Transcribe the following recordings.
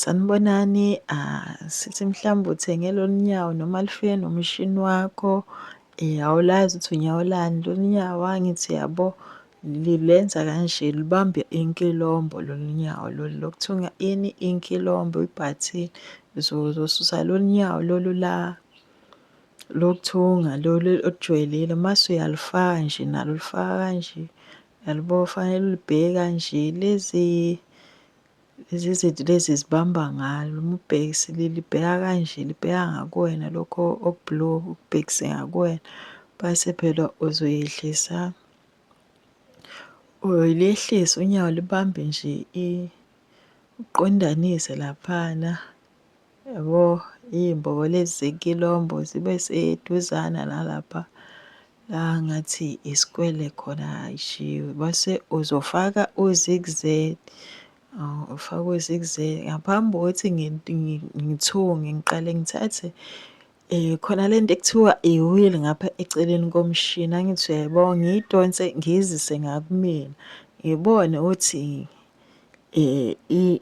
Sanibonani sisi mhlawumbe uthenge lolu nyawo noma lifike nomshini wakho awulazi ukuthi unyawo lani lolu nyawo angithi uyabo lenza kanje lubambe inkilombo lolu nyawo lolu lokuthunga ini inkilombo ibhathini. Uzosusa lolu nyawo lolu la lokuthunga lolu olujwayelile mase uyalufaka nje nalo ulufaka kanje yalibo fanele ulibheke kanje lezi Lezi zinto lezi zibamba ngalo uma ubhekisile libheka kanje libheka ngakuwena lokho okublue ukubhekise ngakuwena base phela uzoyehlisa uyolehlisa unyawo libambe nje uqondanise laphana Yabo, iy'mbobo lezi zenkilombo zibe seduzana nalapha la ngathi isikwele khona ayishiwe base uzofaka u-zigz oh, ufaka u-zigz ngaphambi kokuthi ngithunge ngiqale ngithathe Eh, khona le nto ekuthiwa iwili ngapha eceleni komshini angithi uyayibona ngiyidonse ngiyizise ngakumina ngibone ukuthi eh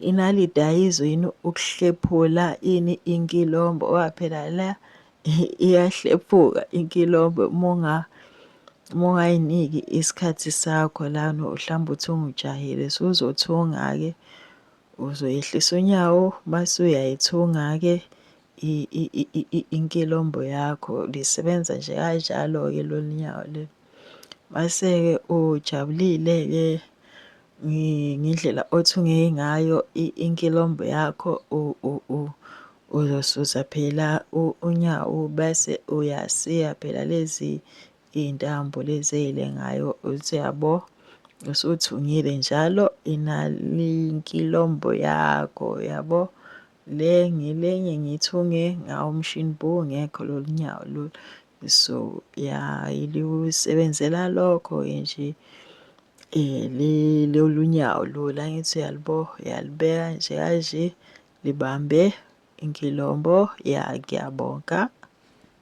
inalidi ayizwe yini ukuhlephula ini inkilombo oba phela la iyahlephuka inkilombo munga mungayiniki isikhathi sakho lana mhlawumbe uthi ungijahile so uzothunga-ke uzoyehlisa unyawo mase uyayithunga-ke inkilombo yakho lisebenza nje kanjalo-ke lolu nyawo leli. Mase-ke ujabulile-ke ngendlela othunge ngayo inkilombo yakho uzosusa phela unyawo bese uyasiya phela lezi iy'ntambo lezi ey'lengayo uthi yabo usuthungile njalo inal'inkilombo yakho yabo. Le ngelenye ngithunge ngawo umshini bo ngekho lolu nyawo lolu so ya ilusebenzela lokho nje um lolu nyawo lolu angithi uyalibo uyalibeka nje kanje libambe inkilombo ya ngiyabonga